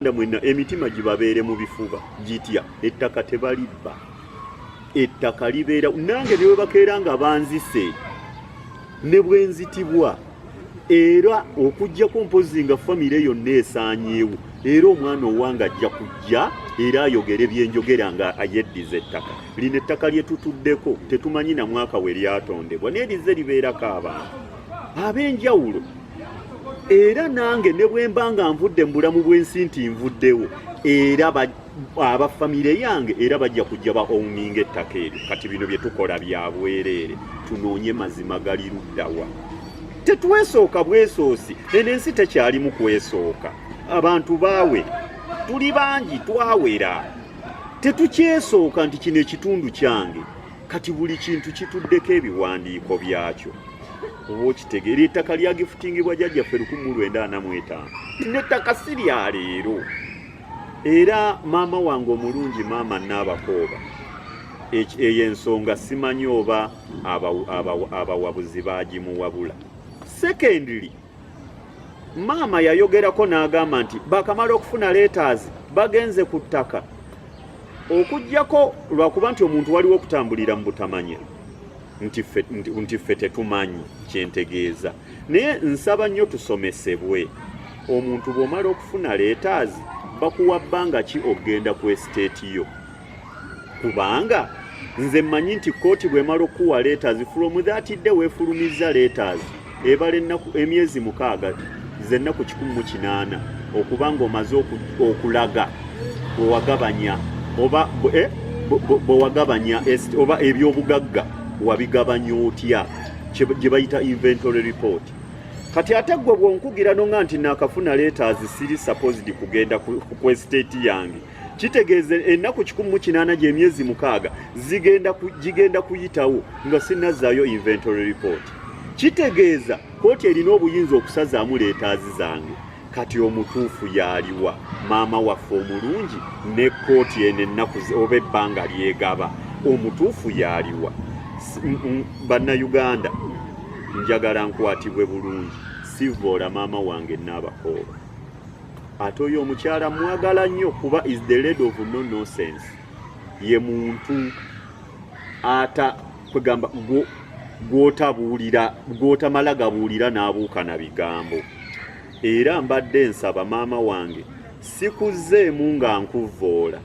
Bannayuganda mwenna emitima gibabeere mu bifuba gitya ettaka tebalibba ettaka libeera nange ne webakeera nga banzise ne bwenzitibwa era okujjako mpozi nga famire yonna esaanyeewo era omwana owange ajja kujja era ayogere byenjogera nga ayeddiza ettaka lino ettaka lye tutuddeko tetumanyi na mwaka we lyatondebwa naye lize libeerako abantu ab'enjawulo era nange ne bwe mba nga nvudde mu bulamu bw'ensi nti nvuddewo era aba famire yange era bajja kujja ba owninga ettaka eryo kati bino bye tukola bya bwereere tunoonye mazima gali luddawa tetwesooka bwesoosi eno ensi tekyalimu kwesooka abantu baawe tuli bangi twawera tetukyesooka nti kino ekitundu kyange kati buli kintu kituddeko ebiwandiiko byakyo oba okitegeera ettaka lyagifutingibwa jajjaffe lukumu lwenda ana mu etaano nettaka si lya leero era maama wange omulungi maama naabakooba eyo ensonga simanyi oba abawabuzi bagimuwabula secondly maama yayogerako n'agamba nti bakamala okufuna leetaazi bagenze ku ttaka okugyako lwakuba nti omuntu waliwo okutambulira mu butamanya nti ffe tetumanyi kyentegeeza naye nsaba nnyo tusomesebwe omuntu bw'omala okufuna leetaazi bakuwa bbanga ki okugenda ku esiteeti yo kubanga nze mmanyi nti kkooti bw'emala okukuwa letters from that day weefulumizza letters ebala ennaku emyezi mukaaga ze nnaku kikumi mu kinaana okuba ng'omaze okulaga bwewagabanya oba eh, bwewagabanya oba ebyobugagga wabigabanya otya gye bayita inventory report kati ate gwe bwonkugira nonga nti nakafuna letters siri supposed kugenda ku estate yange kitegeeza ennaku kikumi mu kinaana gy'emyezi mukaaga gigenda kuyitawo nga sinazzaayo inventory report kitegeeza kooti erina obuyinza okusazaamu leetaazi zange kati omutuufu yaaliwa maama waffe omulungi ne kooti eno ennaku oba ebbanga lyegaba omutuufu yaaliwa bannayuganda njagala nkwatibwe bulungi sivoola maama wange naabakooba ate oyo omukyala mwagala nnyo kuba is the lady of no nonsense ye muntu ata kwegamba gwotabuulira gwotamala gabuulira n'abuuka na bigambo era mbadde nsaba maama wange sikuzzeemu nga nkuvvoola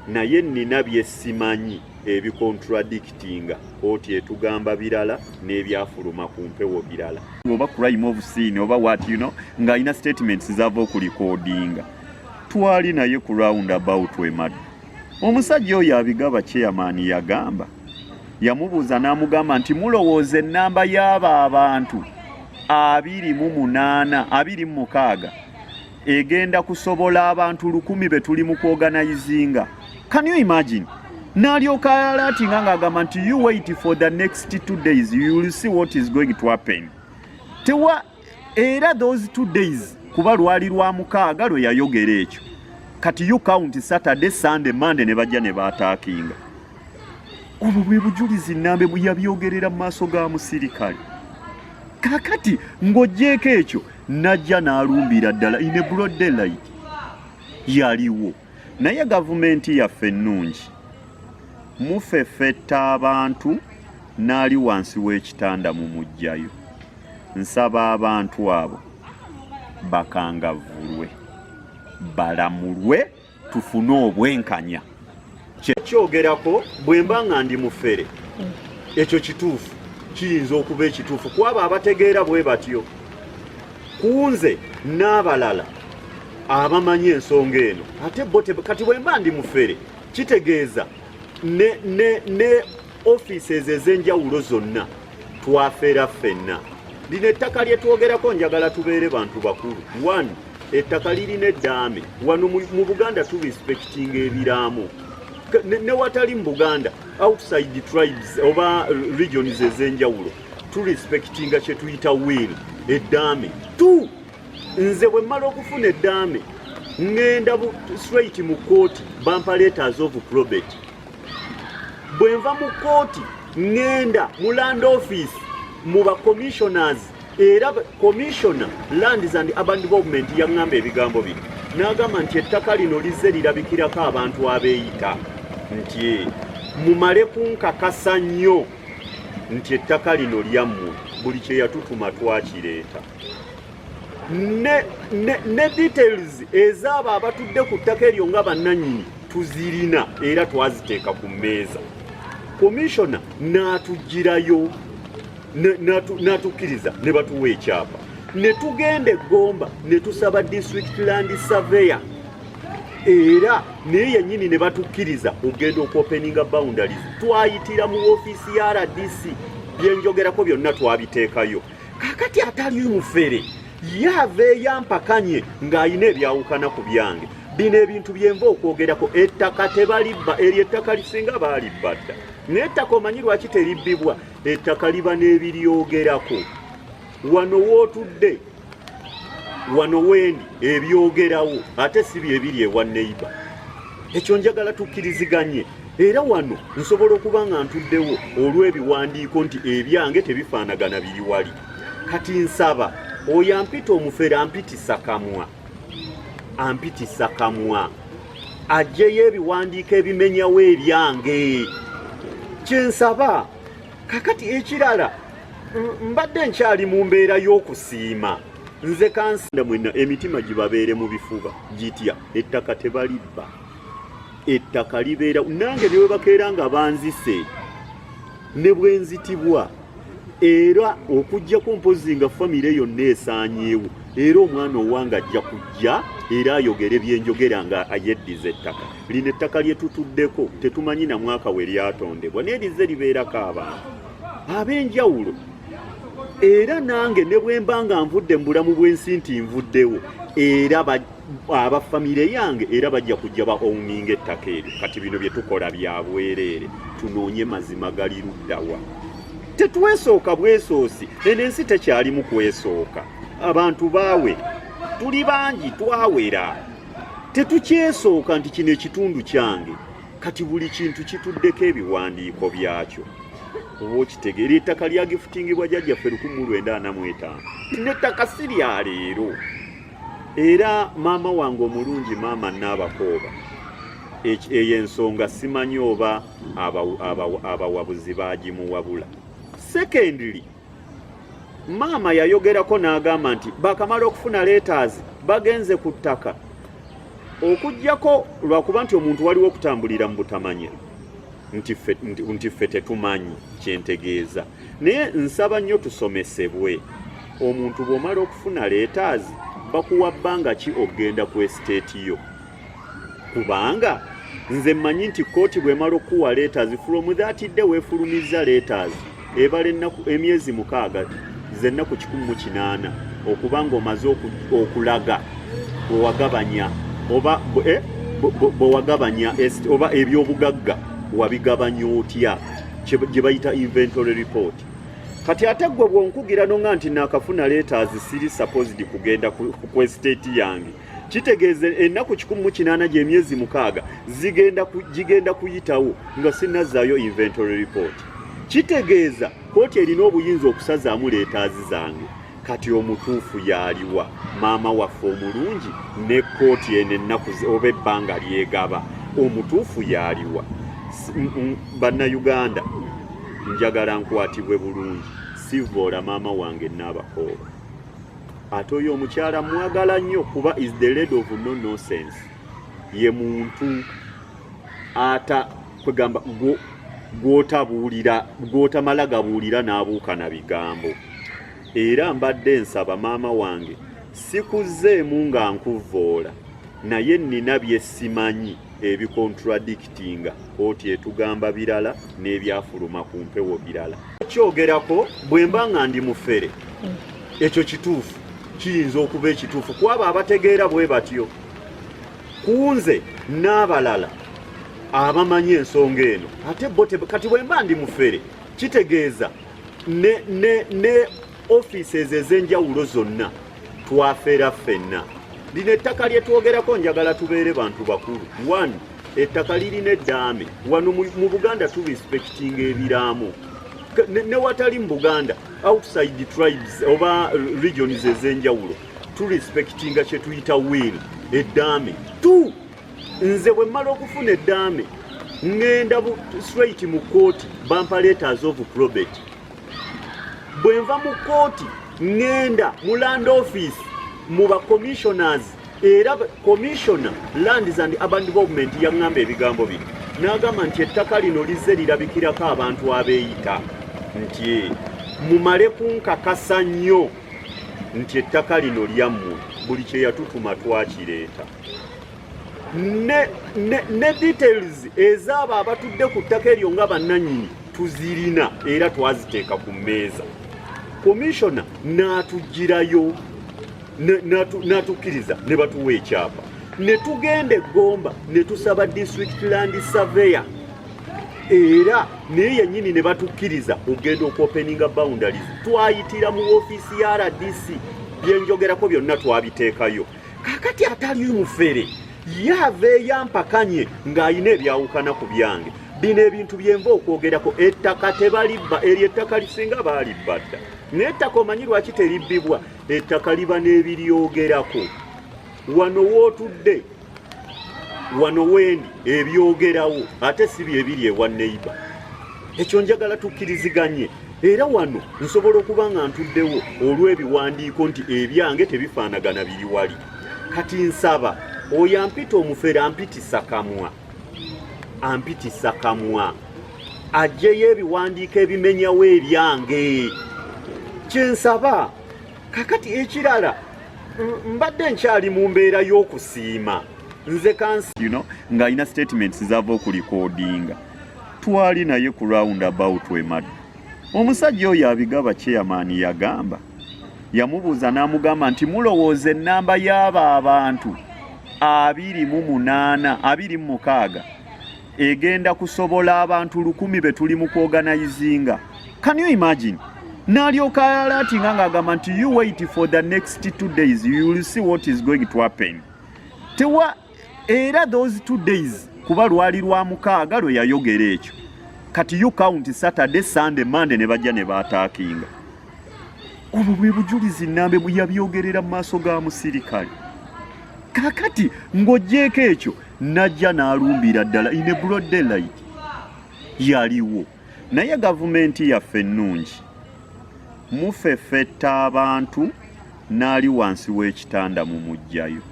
naye nnina byesimanyi ebikontradictinga kooti etugamba birala n'ebyafuluma ku mpewo birala oba crime of scene oba wat you know ng'alina statements zava okulikodinga twali naye ku round about emadu omusajja oyo abigaba chairman yagamba yamubuuza n'amugamba nti mulowooza ennamba y'abo abantu abiri mu munaana abiri mu mukaaga egenda kusobola abantu lukumi betuli mu kuorganizinga can you imagine nalyoka alatinga ng'agamba nti you wait for the next two days you will see what is going to happen tewa era those two days kuba lwali lwa mukaaga lwe yayogera ekyo kati you count saturday sunday monday ne bajja ne baataakinga obwo bwe bujulizi nambe bwe yabyogerera mu maaso ga musirikale kakati ng'ogyeko ekyo najja n'alumbira ddala in a broad daylight yaliwo naye gavumenti yaffe ennungi mufefetta abantu n'ali wansi w'ekitanda mu mujjayo nsaba abantu abo bakangavulwe balamulwe tufune obwenkanya kyogerako bwemba nga ndi mufere ekyo kituufu kiyinza okuba ekituufu kwabo abategeera bwe batyo kunze n'abalala abamanyi ensonga eno ate bo kati bwemba ndi mufere kitegeeza ne, ne, ne offices ez'enjawulo zonna twafera ffenna lino ettaka lye twogerako njagala tubeere bantu bakulu one ettaka lirina eddaame wano mu buganda tu respectinga ebiraamo newatali mu buganda outside the tribes oba regions ez'enjawulo tu respectinga kye tuyita will eddaame tu nze bwe mmala okufuna eddaame ŋŋenda straight mu kkooti bampaleetaaza ovu probate bwenva mu kooti ŋŋenda mu land office mu ba commissioners era commissioner lands and urban development yaŋŋamba ebigambo bino n'agamba nti ettaka lino lizze lirabikirako abantu abeeyita nti eh, mumale kunkakasa nnyo nti ettaka lino lyammwe buli kye yatutuma twakireeta ne details ezaabo abatudde ku ttaka eryo nga bannanyini tuzirina era twaziteeka ku mmeeza komishona n'atugirayo n'atukkiriza ne batuwa ekyapa ne tugenda eggomba ne tusaba district land surveyor era naye yennyini ne batukkiriza okugenda okuopeninga boundaries twayitira mu ofiisi ya rdc byenjogerako byonna twabiteekayo kakati atali mufere yaveeyo ampakanye ng'alina ebyawukana ku byange bino ebintu byenva okwogerako ettaka tebalibba eryo ettaka lisinga baalibba dda naye ettaka omanyi lwaki teribbibwa ettaka liba n'ebiryogerako wano wootudde wano wendi ebyogerawo ate si byebiri ewa neiba ekyo njagala tukkiriziganye era wano nsobola okuba nga ntuddewo olw'ebiwandiiko nti ebyange tebifaanagana biri wali kati nsaba oyo ampita omufere ampitisa kamwa ampitisa kamwa ajjeyo ebiwandiiko ebimenyawo ebyange kyensaba kakati ekirala mbadde nkyali mu mbeera y'okusiima nze kansanda mwena emitima gibabeere mu bifuba gitya ettaka tebalibba ettaka libeera nange newebakeera nga banzise ne bwenzitibwa era okujjako mpozi nga famire yonna esaanyeewo era omwana owange ajja kujja era ayogere byenjogera nga ayeddiza ettaka lino ettaka lyetutuddeko tetumanyi na mwaka we lyatondebwa naye lize libeerako abantu ab'enjawulo era nange ne bwe mba nga nvudde mu bulamu bw'ensi nti nvuddewo era aba famire yange era bajja kujja ba owninga ettaka eryo kati bino bye tukola bya bwereere tunoonye mazima gali luddawa tetwesooka bwesoosi eno ensi tekyalimu kwesooka abantu baawe tuli bangi twawera tetukyesooka nti kino ekitundu kyange kati buli kintu kituddeko ebiwandiiko byakyo oba okitegeera ettaka lyagifutingibwa jajjaffe lukumu lwenda ana mu etaano nettaka si lya leero era maama wange omulungi maama naabakooba eyo ensonga simanyi oba abawabuzi bagimuwabula secondly maama yayogerako n'agamba nti bakamala okufuna leetaazi bagenze ku ttaka okugyako lwakuba nti omuntu waliwo okutambulira mu butamanya nti ffe tetumanyi kyentegeeza naye nsaba nnyo tusomesebwe omuntu bw'omala okufuna leetaazi bakuwa bbanga ki okugenda ku esiteeti yo kubanga nze mmanyi nti kkooti bw'emala okukuwa letters from that day weefulumizza letters ebala ennaku emyezi mukaaga ze nnaku kikumi mu kinaana okuba ng'omaze okulaga bwewagabanya oba eh, bwewagabanya oba ebyobugagga wabigabanya otya gye bayita inventory report kati ate gwe bwonkugira nonga nti nakafuna letters siri supposed kugenda ku estate yange kitegeeza ennaku kikumi mu kinaana gy'emyezi mukaaga gigenda kuyitawo nga sinazzaayo inventory report kitegeeza kooti erina obuyinza okusazaamu leetaazi zange kati omutuufu yaaliwa maama waffe omulungi ne kooti eno ennaku oba ebbanga lyegaba omutuufu yaaliwa bannayuganda njagala nkwatibwe bulungi sivoola maama wange naabakooba ate oyo omukyala mwagala nnyo kuba is the lady of no nonsense ye muntu ata kwegamba gwotabuulira gwotamala gabuulira n'abuuka na bigambo era mbadde nsaba maama wange sikuzzeemu nga nkuvvoola naye nnina byesimanyi ebikontradictinga kooti etugamba birala n'ebyafuluma ku mpewo birala kyogerako bwe mba nga ndi mufere ekyo kituufu kiyinza okuba ekituufu ku abo abategeera bwe batyo ku nze n'abalala abamanyi ensonga eno ate bo kati bwe mba ndi mufere kitegeeza ne, ne, ne offices ez'enjawulo zonna twafera ffenna lino ettaka lye twogerako njagala tubeere bantu bakulu one ettaka lirina eddaame wano mu buganda turespektinga ebiraamo newatali mu buganda outside tribes oba regions ez'enjawulo turespektinga kyetuyita wiil eddaame t nze bwe mmala okufuna eddaame ŋŋenda straight mu kkooti bampaleetaaza ovu probate bwenva mu kooti ŋŋenda mu land office mu ba commissioners era commissioner lands and urban development yaŋŋamba ebigambo bino n'agamba nti ettaka lino lizze lirabikirako abantu abeeyita nti eh, mumale kunkakasa nnyo nti ettaka lino lyammwe buli kye yatutuma twakireeta ne details ezaabo abatudde ku ttaka eryo nga bannanyini tuzirina era twaziteeka ku mmeeza komishona n'atugirayo n'atukkiriza ne batuwa ekyapa ne tugenda eggomba ne tusaba district land surveyor era naye yennyini ne batukkiriza okugenda okuopeninga boundaries twayitira mu ofiisi ya rdc byenjogerako byonna twabiteekayo kakati atali mufere ye aveeyo ampakanye ng'alina ebyawukana ku byange bino ebintu byenva okwogerako ettaka tebalibba eryo ettaka lisinga baalibba dda naye ettaka omanyi lwaki teribbibwa ettaka liba n'ebiryogerako wano wootudde wano wendi ebyogerawo ate si byebiri ewa neiba ekyo njagala tukkiriziganye era wano nsobola okuba nga ntuddewo olw'ebiwandiiko nti ebyange tebifaanagana biri wali kati nsaba oyo ampita omufere ampitisa kamwa ampitisa kamwa ajjeyo ebiwandiiko ebimenyawo ebyange kyensaba kakati ekirala mbadde nkyali mu mbeera y'okusiima nze kansi you know, ng'alina statements zava okulikodinga twali naye ku round about emad omusajja oyo abigaba chairman yagamba yamubuuza n'amugamba nti mulowooza ennamba y'abo abantu abiri mu munaana abiri mu mukaaga egenda kusobola abantu lukumi be tuli mu kuoganayizinga can you imagine nalyoka alatinga ng'agamba nti you wait for the next two days you will see what is going to happen tewa era those two days kuba lwali lwa mukaaga lwe yayogera ekyo kati you count saturday sunday monday ne bajja ne baataakinga obwo bwe bujulizi nambe yabyogerera mu maaso ga musirikale kakati ng'ogyeko ekyo najja n'alumbira ddala in a broad daylight yaliwo naye gavumenti yaffe ennungi mufefetta abantu n'ali wansi w'ekitanda mu mujjayo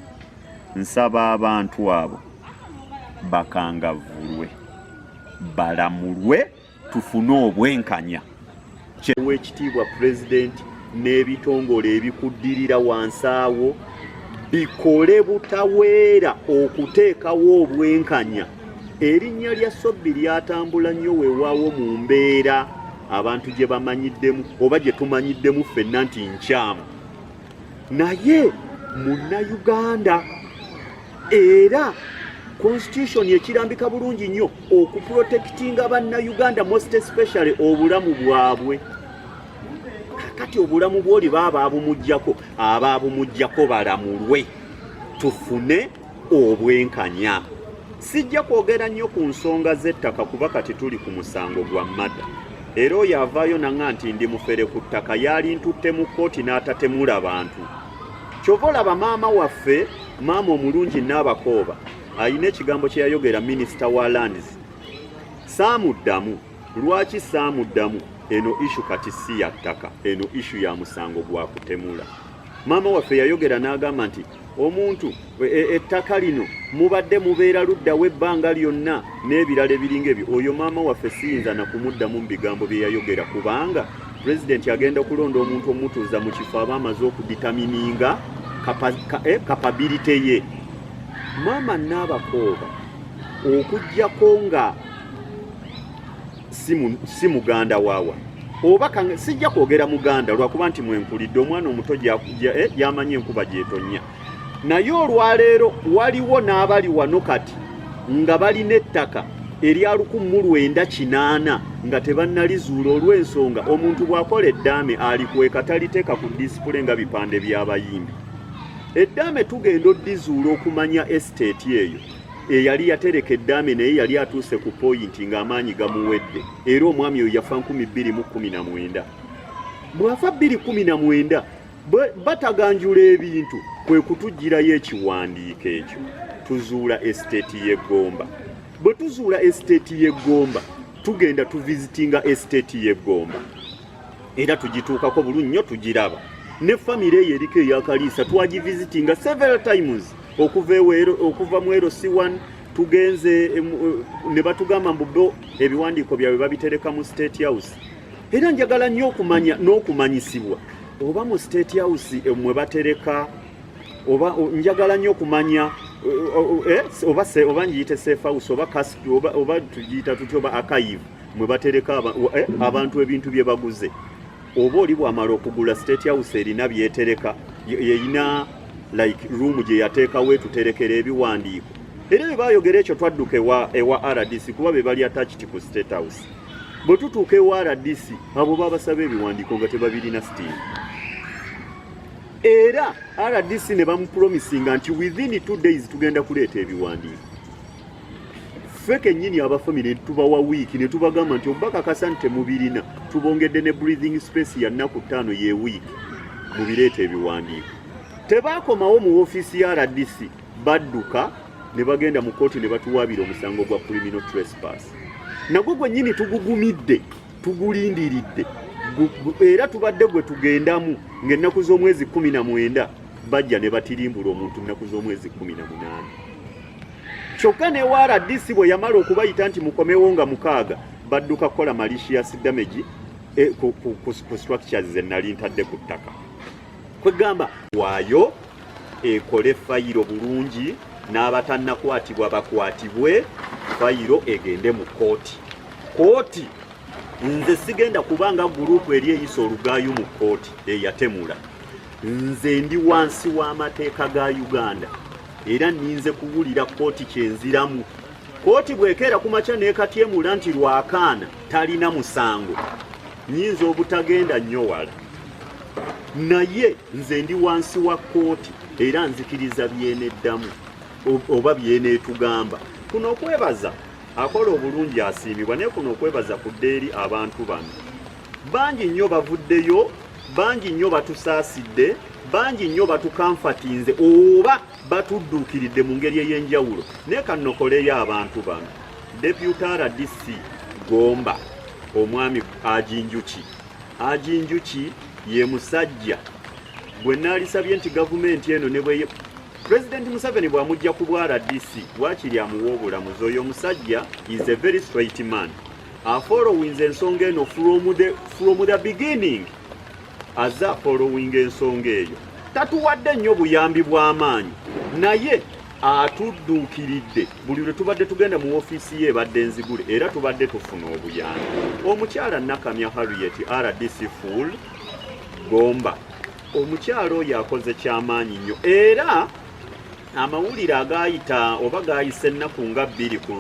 Nsaba abantu abo bakangavulwe balamulwe tufune obwenkanya kyewa ekitiibwa pulezidenti n'ebitongole ebikuddirira wansi awo bikole butaweera okuteekawo obwenkanya erinnya lya sobbi lyatambula nnyo weewaawo mu mbeera abantu gye bamanyiddemu oba gye tumanyiddemu ffenna nti nkyamu naye munnayuganda era constitution ekirambika bulungi nnyo okuprotekitinga bannayuganda most especially obulamu bwabwe kakati obulamu bwoli baaba abumugjako aba abumugjako balamulwe tufune obwenkanya sijja kwogera nnyo ku nsonga z'ettaka kuba kati tuli ku musango gwa mada era oyo avaayo naŋa nti ndi mufere ku ttaka yalintutte mu kkooti n'atatemula bantu kyova olaba maama waffe maama omulungi naabakooba alina ekigambo kye yayogera minisita wa lands saamuddamu lwaki saamuddamu eno ishu kati si ya ttaka eno ishu ya musango gwa kutemula maama waffe yayogera n'agamba nti omuntu e, e, ettaka lino mubadde mubeera luddawo ebbanga lyonna n'ebirala ebiringa ebyo oyo maama waffe siyinza nakumuddamu mu bigambo bye yayogera kubanga pulezidenti agenda okulonda omuntu omutuuza mu kifo aba amaze okuditamininga kapabilite eh, ye maama naabakooba okugyako nga si muganda waawa oba sijja kwogera muganda lwakuba nti mwenkulidde omwana omuto yamanyi eh, enkuba gyetonya naye olwaleero waliwo n'abali wano kati nga balina ettaka erya lukumu lwenda kinaana nga tebannalizuula olw'ensonga omuntu bw'akola eddaame alikweka taliteeka ku disipule nga bipande by'abayimbi eddaame tugenda oddizuula okumanya esiteeti eyo eyali yatereka eddaame naye yali atuuse ku poyinti ng'amaanyi gamuwedde era omwami oyo yafa nkumi bbiri mu kkumi na mwenda bw'afa bbiri kkumi na mwenda bataganjula ebintu kwe kutugirayo ekiwandiiko ekyo tuzuula esiteeti y'eggomba bwe tuzuula esiteeti y'eggomba tugenda tuvizitinga esiteeti y'eggomba era tugituukako bulu nnyo tugiraba ne famire eyo eriko eyakaliisa twagivizitinga several times okuva ewero okuva mu ero c1 tugenze eh, ne batugamba mbu bo ebiwandiiko byabwe babitereka mu state house era njagala nnyo okumanya n'okumanyisibwa oba mu state house eh, mwe batereka oba njagala nnyo okumanya eh, eh, oba oba ngiyite safe house oba kas oba oba tugiyita tutya oba archive mwe batereka eh, abantu ebintu bye baguze oba oli bwamala okugula state house erina byetereka erina like room gye yateekawo etuterekera ebiwandiiko era bwe bayogera ekyo twadduka ewa, ewa rdc kuba be bali attached ku state house bwe tutuuka ewa rdc abo babasaba ebiwandiiko nga tebabirina sitiimu era rdc ne bamupromisinga nti within two days tugenda kuleeta ebiwandiiko ffe kennyini aba famire tubawa wiiki ne tubagamba nti obubakakasa nti temubirina tubongedde ne breathing space ya nnaku ttaano ye wiiki mu bireeta ebiwandiiko tebaakomawo mu ofiisi ya rdc badduka ne bagenda mu kkooti ne batuwaabira omusango gwa criminal trespass nagwo gwennyini tugugumidde tugulindiridde era tubadde gwe tugendamu ng'ennaku z'omwezi kumi na mwenda bajja ne batirimbula omuntu nnaku z'omwezi kumi na munaana kyokka ne rdc bwe yamala okubayita nti mukomewo nga mukaaga badduka kukola malicious damage eh, ku, ku, ku, ku structures ze nali ntadde ku ttaka kwegamba waayo ekole fayiro bulungi n'abatannakwatibwa bakwatibwe fayiro egende mu kooti kooti nze sigenda kubanga gurupu eri eyisa olugaayu mu kooti eyatemula nze ndi wansi w'amateeka ga uganda era ninze kuwulira kooti kyenziramu kooti bwekeera ku makya nekatyemula nti lwakaana talina musango nyinza obutagenda nnyo wala naye nze ndi wansi wa kooti era nzikiriza byeneddamu oba byeneetugamba kuno okwebaza akola obulungi asiimibwa naye kuno okwebaza kudda eri abantu bano bangi nnyo bavuddeyo bangi nnyo batusaasidde bangi nnyo batukanfatinze oba batudduukiridde mu ngeri ey'enjawulo naye kannokoleyo abantu bano deputa rdc gomba omwami ajinjuki ajinjuki ye musajja bwe naalisabye nti gavumenti eno ne bwe pulezidenti museveni bw'amujja ku bwa rdc waakiri amuwa obulamuzi oyo omusajja is a very straight man afollowinze ensonga eno from the, from the beginning aza afollowinga ensonga eyo tatuwadde nnyo buyambi bw'amaanyi naye atudduukiridde buli lwe tubadde tugenda mu ofiisi ye ebadde nzigule era tubadde tufuna obuyambi omukyala nakamya harriet rdc full gomba omukyala oyo akoze kyamaanyi nnyo era amawulire agaayita oba gaayise ennaku nga bbiri ku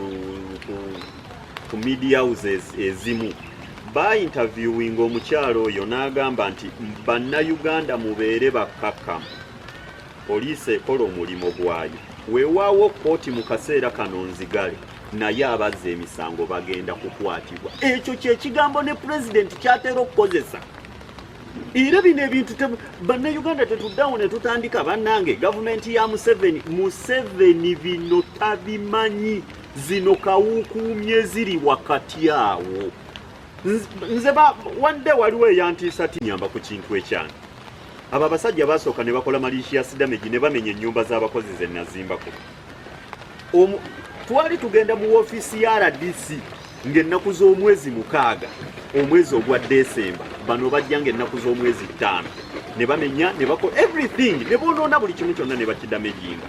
ku media houses ezimu baayintaviewinga omukyalo oyo n'agamba nti bannayuganda mubeere bakkakkamu poliisi ekola omulimu gwayo weewaawo kkooti mu kaseera kano nzigale naye abazza emisango bagenda kukwatibwa ekyo kyekigambo ne pulezidenti kyatera okukozesa era bino ebintu bannayuganda tetuddawo ne tutandika bannange gavumenti ya museveni museveni bino tabimanyi zino kawukuumye ziri wakati awo nze wande waliwo eyantiisa ti nyamba ku kintu ekyani abo abasajja basooka ne bakola malishiya sidamegi ne bamenya ennyumba z'abakozi ze nazimbako twali tugenda mu woofiisi ya rdc ng'ennaku z'omwezi mukaaga omwezi ogwa desemba bano bajja ng'ennaku z'omwezi ttaano ne bamenya ne bakola everything ne boonoona buli kimu kyonna ne bakidamejinga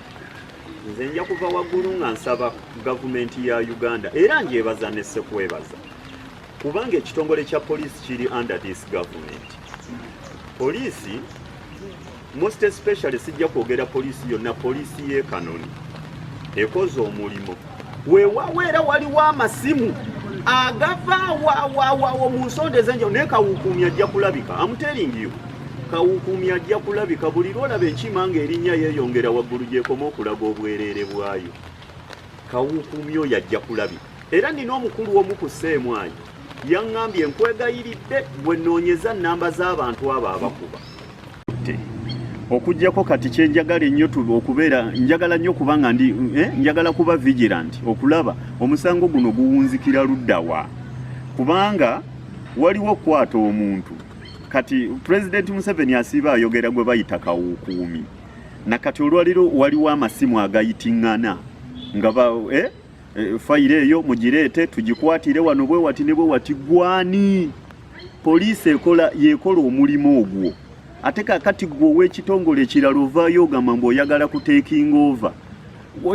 nze nja kuva waggulu nga nsaba gavumenti ya uganda era njebaza nesekwebaza kubanga ekitongole kya poliisi kiri under this government poliisi most especially sijja kwogera poliisi yonna poliisi y'ekanoni ekoze omulimu wewawo era waliwo amasimu agava wawawawo mu nsonda ezenjawulo naye kawukuumi ajja kulabika amuteringiyo kawukuumi ajja kulabika buli lwolaba enkima nga erinnya yeeyongera waggulu gyekoma okulaga obwereere bwayo kawukuumi oyo ajja kulabika era nina omukulu omu ku seemwayi yaŋŋambye nkwegayiridde gwe noonyeza nnamba z'abantu abo abakuba okujjako kati kyenjagala ennyo tube okubeera njagala nnyo kuba nga ndi eh, njagala kuba vigilant okulaba omusango guno guwunzikira luddawa kubanga waliwo okukwata omuntu kati pulezidenti museveni asiiba ayogera gwe bayita kawukuumi na kati olwaliro waliwo amasimu agayitingana nga ba eh, eh, fayiro eyo mugireete tugikwatire wano bwewati ne bwewati gwani poliisi ekola yekola omulimu ogwo ate kakati gwe ow'ekitongole ekirala ovaayo ogamba mbu oyagala kutekinga ova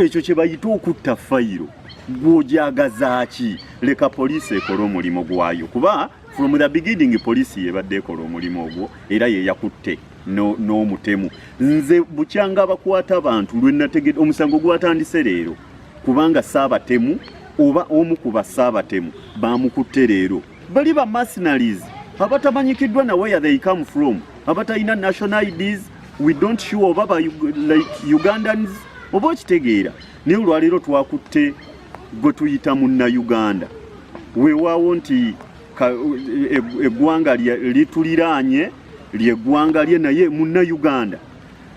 ekyo kye bayita okutta fayiro gwojagazaaki leka poliisi ekole omulimu gwayo kuba from the beginning poliisi yebadde ekola omulimu ogwo era yeyakutte n'omutemu nze bukyanga abakwata abantu lwenategede omusango gwatandise leero kubanga saabatemu oba omu ku basaabatemu bamukutte leero bali ba mercenaries abatamanyikiddwa na where they come from abatalina national IDs we don't show oba ba like Ugandans oba okitegeera naye olwaleero twakutte gwe tuyita munna Uganda weewaawo nti e, eggwanga lituliraanye lyeggwanga lye naye munna Uganda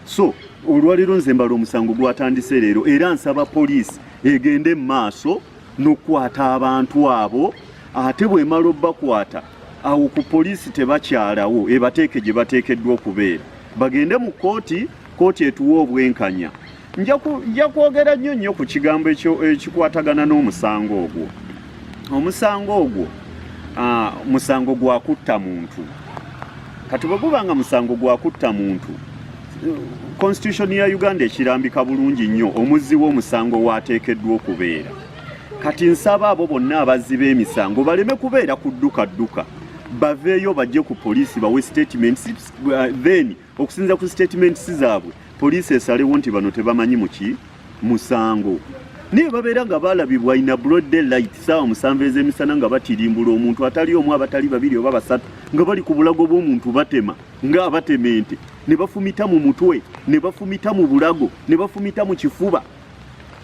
so olwaleero nze mbala omusango gwatandise leero era nsaba poliisi egende mu maaso n'okukwata abantu abo ate bwemala obakwata awo ku poliisi tebakyalawo ebateeke gye bateekeddwa okubeera bagende mu kkooti kkooti etuwa obwenkanya nja kwogera nnyo nnyo ku kigambo ekikwatagana n'omusango ogwo omusango ogwo musango gwa kutta muntu kati bwe guba nga musango gwa kutta muntu constitution ya uganda ekirambika bulungi nnyo omuzzi w'omusango waateekeddwa okubeera kati nsaba abo bonna abazzi b'emisango baleme kubeera kudduka dduka baveeyo bajje ku poliisi bawe statements uh, then okusinza ku statements zaabwe Poliisi esalewo nti bano tebamanyi muki musango naye babeera nga balabibwa ina broad day light saawa musanvu ez'emisana nga batirimbula omuntu atali omu abatali babiri oba basatu nga bali ku bulago bw'omuntu batema nga abatema ente ne bafumita mu mutwe ne bafumita mu bulago ne bafumita mu kifuba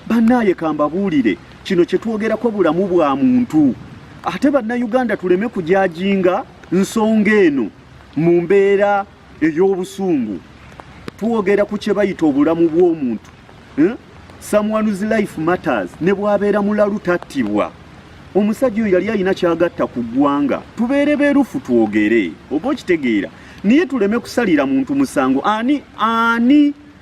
bannaaye kambabuulire kino kye twogerako bulamu bwa muntu ate bannayuganda tuleme kujajinga nsonga eno mu mbeera ey'obusungu twogera ku kye bayita obulamu bw'omuntu eh? someone's life matters ne bwabeera mulalu tattibwa omusajja oyo yali alina kyagatta ku ggwanga tubeere beerufu twogere oba okitegeera naye tuleme kusalira muntu musango ani ani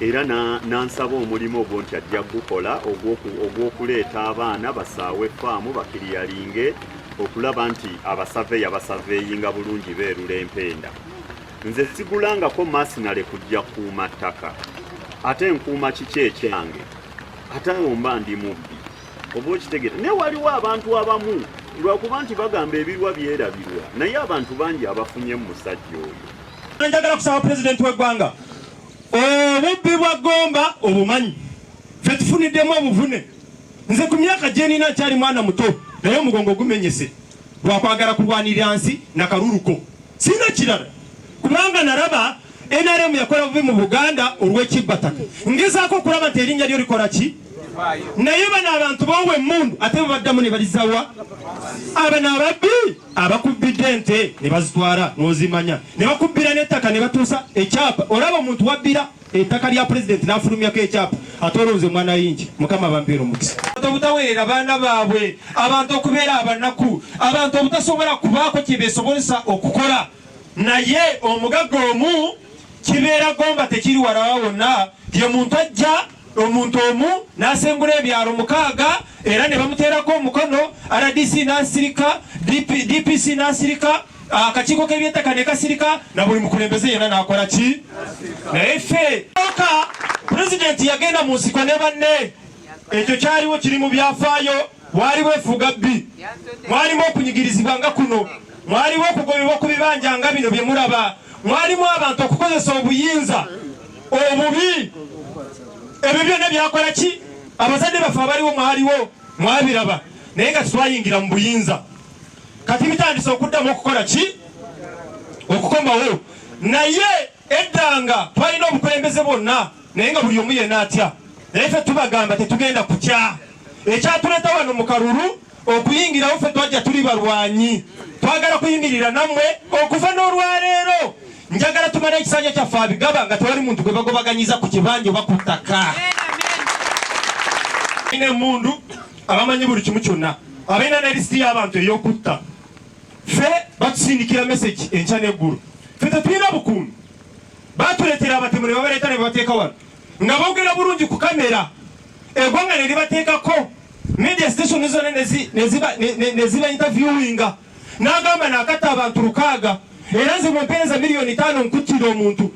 era n'ansaba omulimu ogwo nti ajja kugukola ogw'okuleeta abaana basaawe faamu bakiriyalinge okulaba nti abasaveya basaveeyinga bulungi beerula empenda nze sigulangako masinale kujja kuuma ttaka ate nkuuma kiki ekyange ate omba ndi mubbi oba okitegere naye waliwo abantu abamu lwakuba nti bagamba ebirwa byerabirwa naye abantu bangi abafunye mu musajja oyo Njagala kusaba pulezidenti w'eggwanga obubbi bwa Gomba obumanyi fe tufuniddemu obuvune. Nze ku myaka gye nina nkyali mwana muto naye omugongo gumenyese lwakwagala kulwanirira nsi na kaluluko. Sirina kirala kubanga nalaba NRM yakola bubi mu Buganda olw'ekibbataka. Ngezaako okulaba nti erinnya lyo likola ki naye bano abantu boowa emmundu ate bwe baddamu ne balizawa abano ababbi abakubbidde ente ne bazitwala n'ozimanya ne bakubbira n'ettaka ne batuusa ekyapa olaba omuntu wabbira ettaka lya pulezidenti n'afulumyako ekyapa ate olonze mwana yingi mukama bampeera omukisa obutaweerera baana baabwe abantu okubeera abanaku abantu obutasobola kubaako kye beesobozesa okukola naye omugagga omu kibeera gomba tekiri walawa wonna ye muntu ajja omuntu omu n'asengula ebyalo mukaaga era ne bamuteerako omukono rdc n'asirika dpc n'asirika akakiiko k'ebyettaka ne kasirika na buli mukulembeze yena n'akola ki naye ffe oka pulezidenti yagenda mu nsiko ne banne ekyo kyaliwo kiri mu byafaayo Mwali bwefuga bbi, mwalimu okunyigirizibwa nga kuno, mwaliwo okugobebwa ku bibanja nga bino bye mulaba, mwalimu abantu okukozesa obuyinza obubi. Ebyo byonna byakola ki? Abazadde baffe abaliwo mwaliwo, mwabiraba, naye nga tetwayingira mu buyinza. Kati bitandise okuddamu okukola ki? Okukomawo naye Eddanga twalina obukulembeze bwonna naye nga buli omu yena atya naye ffe tubagamba tetugenda kukya ekyatuleta wano mu kalulu okuyingirawo ffe twajja tuli balwanyi twagala kuyimirira nammwe okuva n'olwaleero njagala tumale ekisanja kyaffe abigaba nga tewali muntu gwe bagobaganyiza ku kibanja oba ku ttaka ina emundu abamanyi buli kimu kyonna abalina ne lisiti y'abantu ey'okutta ffe batusindikira message enkya n'eggulu ffe tetulina bukuumi batuleetera abatemu ne babaleeta ne babateeka wano nga boogera bulungi ku kamera eggwanga ne libateekako media station zona neziba interviewinga n'agamba naakatta abantu lukaaga era nze mumpeereza miliyoni taano nkuttira omuntu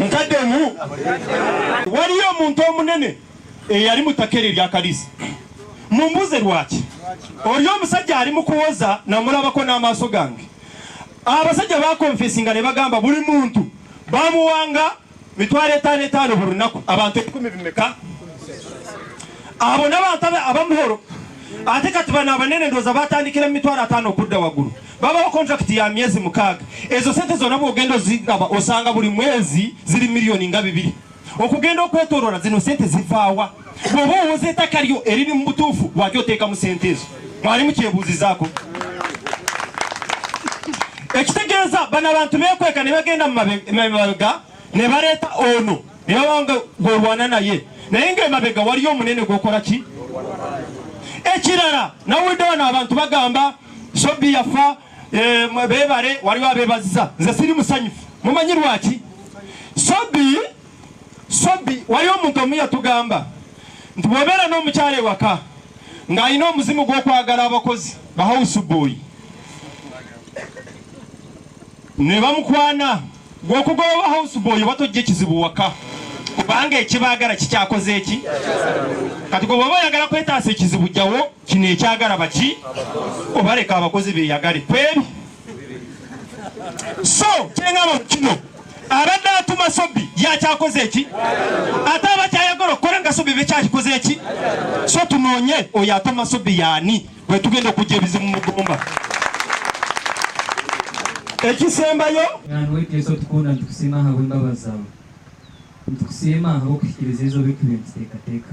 nkaddemu waliyo omuntu omunene eyali eh, mu ttaka eryo eryakalisa mumbuze lwaki oli omusajja ali mu kuwoza namulabako n'amaaso gange abasajja bakonfesinga ne bagamba buli muntu bamuwanga mitwalo etaano etaano buli lunaku abantu ebikumi bimeka abo nabantu abamuhoro ate kati bano abanene ndoza batandikira mumitwalo ataano okudda waggulu babawo kontrakiti ya myezi mukaaga ezo sente zona bwogenda oziraba osanga buli mwezi ziri miliyoni nga bibiri okugenda okwetolora zino sente zivaawa bw'oba owoza ettaka lyo eriri mu butuufu lwaki oteeka mu sente ezo mwali mukyebuuzizaako ekitegeeza bano abantu bekweka ne bagenda mumabega ne baleeta ono ne babanga gwolwana naye naye ngaemabega waliyo omunene gwokola ki ekirala nawulidde wano abantu bagamba sobi yafa eh, bebale waliwo abebaziza nze siri musanyufu mumanyi lwaki sobi sobi wali omuntu omu yatugamba nti bwobeera n'omukyala ewaka ng'alina omuzimu gw'okwagala abakozi bahawusubuyi ne bamukwana gweokugoba bahawusubuyi oba tojja ekizibu waka kubanga ekibaagala kikyakoze eki kati gwe bwoba oyagala kwetaasa ekizibu jjawo kino ekyagala baki obaleka abakozi beyagale kwebi so kyengamba mu kino abadde atuma sobi yakyakoze eki ate abakyayagala okukola nga sobi bekyakikoze eki so tunoonye oyo atuma sobi yaani bwetugenda okujja ebizibu mugumba ekisembayo nweteso tukunda ntukusiima habwembabazi zawe ntukusiima habwokuhikiriza ezo bikube ntuteekateeka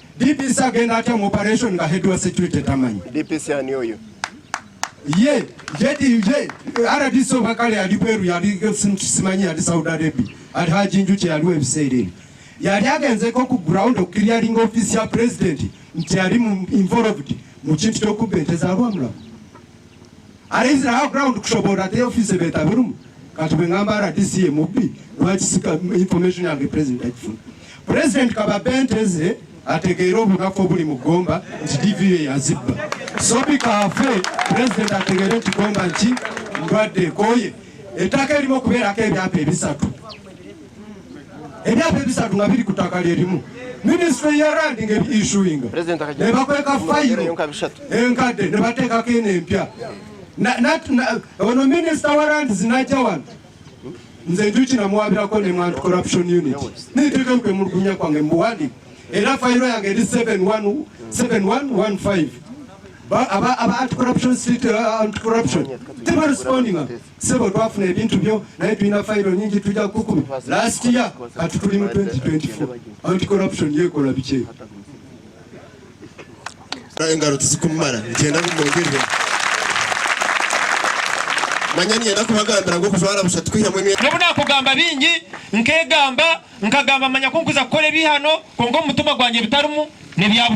DPC agenda atya mu operation nga head wa security tamanyi. DPC ani oyo? Ye, jedi je, RDC obakale ali Peru yali simanyi yali Saudi Arabia. Ali haji njuki yali webisere eno. Yali agenzeko ku ground of clearing office ya president nti yali involved mu kintu ky'okubba ente za Lwamulago. Arezira ha ground kushobora te office beta birumu. Kati bengamba RDC emubbi lwaki sika information yange president akifuna. President kababenteze ategeera obunafu obuli mu Gomba nti DVA yazibba. Sobi kafe president ategeere nti Gomba nki ndwadde ekoye. Ettaka erimu okubeerako ebyapa ebisatu. emyaka ebisatu nga biri ku ttaka lyerimu minisitule ya randi nga ebiishuinga ne bakweka fayiro enkadde ne bateekako eno empya ono minisita wa randi zinajja wano nze njuki namuwabirako ne mwantu corruption unit niteeka okwemulugunya kwange mubuwandi era fayiro yange eri 7115 aba anti corruption street uh, anti corruption tebarespondinga sebo twafuna ebintu byo naye tulina fayiro nyingi tujja kukumi last year kati tuli mu 2024 anti corruption yekola bikyeyo engalo tezikumala nkyenda kumwogere manya niyenda kubagambira ngo kuzwala busa tukwihamu emyaka nobu nakugamba bingi nkegamba nkagamba manya kunkuza kukola ebihano konga omutima gwange bitarimu nebyabusha